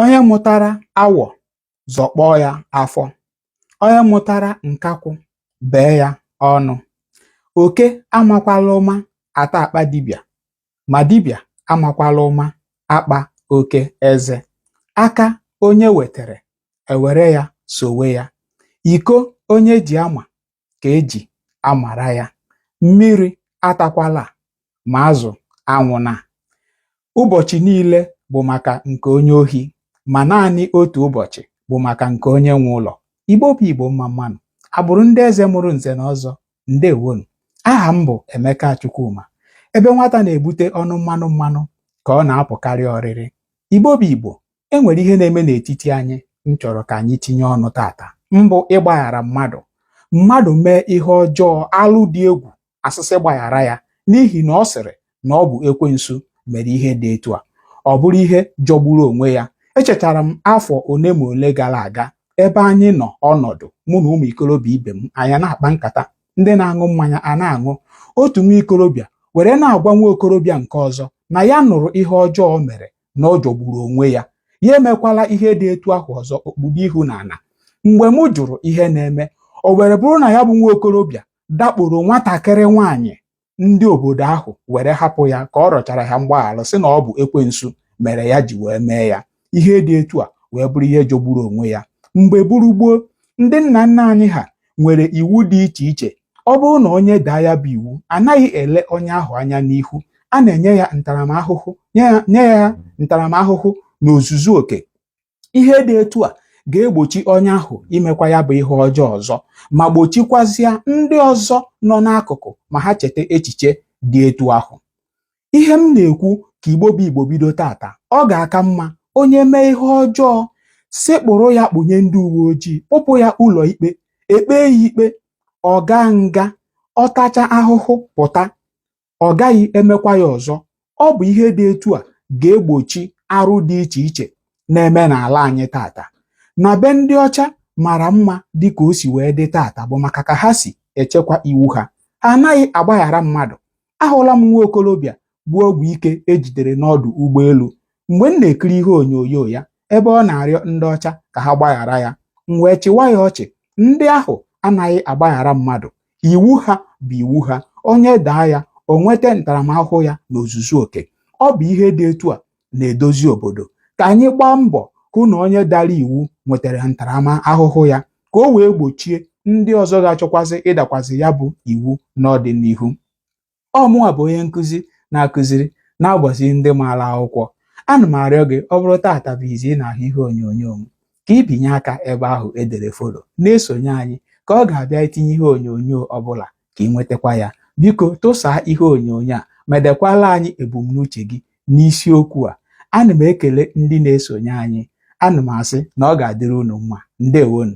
Onye mụtara awọ zọkpọọ ya afọ, onye mụtara nkakwụ bee ya ọnụ. Oke amakwala ụma ata akpa dibịa, ma dibịa amakwala ụma akpa oke eze. Aka onye wetere, ewere ya sowe ya. Iko onye ji ama, ka eji amara ya mmiri atakwala ma azụ anwụna ụbọchị niile bụ maka nke onye ohi ma naanị otu ụbọchị bụ maka nke onye nwe ụlọ igbo bụ igbo mma mma nụ agbụrụ ndị eze mụrụ nze na ọzọ ndewo nụ aha m bụ emeka chukwuma ebe nwata na-ebute ọnụ mmanụ mmanụ ka ọ na-apụkarị oriri igbo bụ igbo e nwere ihe na-eme n'etiti anyị m chọrọ ka anyị tinye ọnụ tata mbụ ịgbaghara mmadụ mmadụ mee ihe ọjọọ alụ dị egwu a sị sị gbaghara ya n'ihi na ọ sịrị na ọ bụ ekwensu mere ihe dị etu a ọ bụrụ ihe jọgburu onwe ya echetara m afọ ole ma ole gara aga ebe anyị nọ ọnọdụ mụ na ụmụ ikorobịa ibe m anyị na-akpa nkata ndị na-aṅụ mmanya a na-aṅụ otu nwa ikorobịa were na-agwa nwa okorobịa nke ọzọ na ya nụrụ ihe ọjọọ o mere na ọ jọgburu onwe ya ya emekwala ihe dị etu ahụ ọzọ o kpudo ihu n'ala mgbe m jụrụ ihe na-eme o were bụrụ na ya bụ nwa okorobịa dakporo nwatakịrị nwaanyị ndị obodo ahụ were hapụ ya ka ọ rịọchara ha mgbaghara sị na ọ bụ ekwensu mere ya ji wee mee ya ihe dị etu a wee bụrụ ihe jọgburu onwe ya mgbe gboo gboo ndị nna nna anyị ha nwere iwu dị iche iche ọ bụrụ na onye daa ya bụ iwu anaghị ele onye ahụ anya n'ihu a na-enye ya ntaramahụhụ nye ya nye ya ntaramahụhụ n'ozuzu oke ihe dị etu a ga-egbochi onye ahụ imekwa ya bụ ihe ọjọọ ọzọ ma gbochikwazịa ndị ọzọ nọ n'akụkụ ma ha cheta echiche dị etu ahụ ihe m na-ekwu ka igbo bụ igbo bido tata ọ ga-aka mma onye mee ihe ọjọọ sekpụrụ ya kpụnye ndị uwe ojii kpụpụ ya ụlọ ikpe e kpee ya ikpe ọ gaa nga ọ tacha ahụhụ pụta ọ gaghị emekwa ya ọzọ ọ bụ ihe dị etu a ga-egbochi arụ dị iche iche na-eme n'ala anyị tata na be ndị ọcha mara mma dị ka o si wee dị tata bụ maka ka ha si echekwa iwu ha ha anaghị agbaghara mmadụ ahụla m nwa okorobịa bu ọgwụ ike e jidere n'ọdụ ụgbọelu mgbe m na-ekiri ihe onyonyo ya ebe ọ na-arịọ ndị ọcha ka ha gbaghara ya m wee chịwa ya ọchị ndị ahụ anaghị agbaghara mmadụ iwu ha bụ iwu ha onye daa ya o nweta ntaramahụhụ ya n'ozuzu oke ọ bụ ihe dị etu a na-edozi obodo ka anyị gbaa mbọ hụ na onye dara iwu nwetara ntaramahụhụ ya ka o wee gbochie ndị ọzọ ga-achọkwazị ịdakwazị ya bụ iwu n'ọdịnihu ọ mụwa bụ onye nkụzi na-akụziri na-agbazi ndị maara akwụkwọ ana m arịọ gị ọ bụrụ taata bụ izi ị na-ahụ ihe onyonyo m ka ị binye aka ebe ahụ edere follow na-esonye anyị ka ọ ga-abụ anyị tinye ihe onyonyo ọbụla ka ị nwetakwa ya biko tụsaa ihe onyonyo a ma dekwala anyị ebumnuche gị n'isiokwu a ana m ekele ndị na-esonye anyị ana m asị na ọ ga-adịrị unu mma ndewonu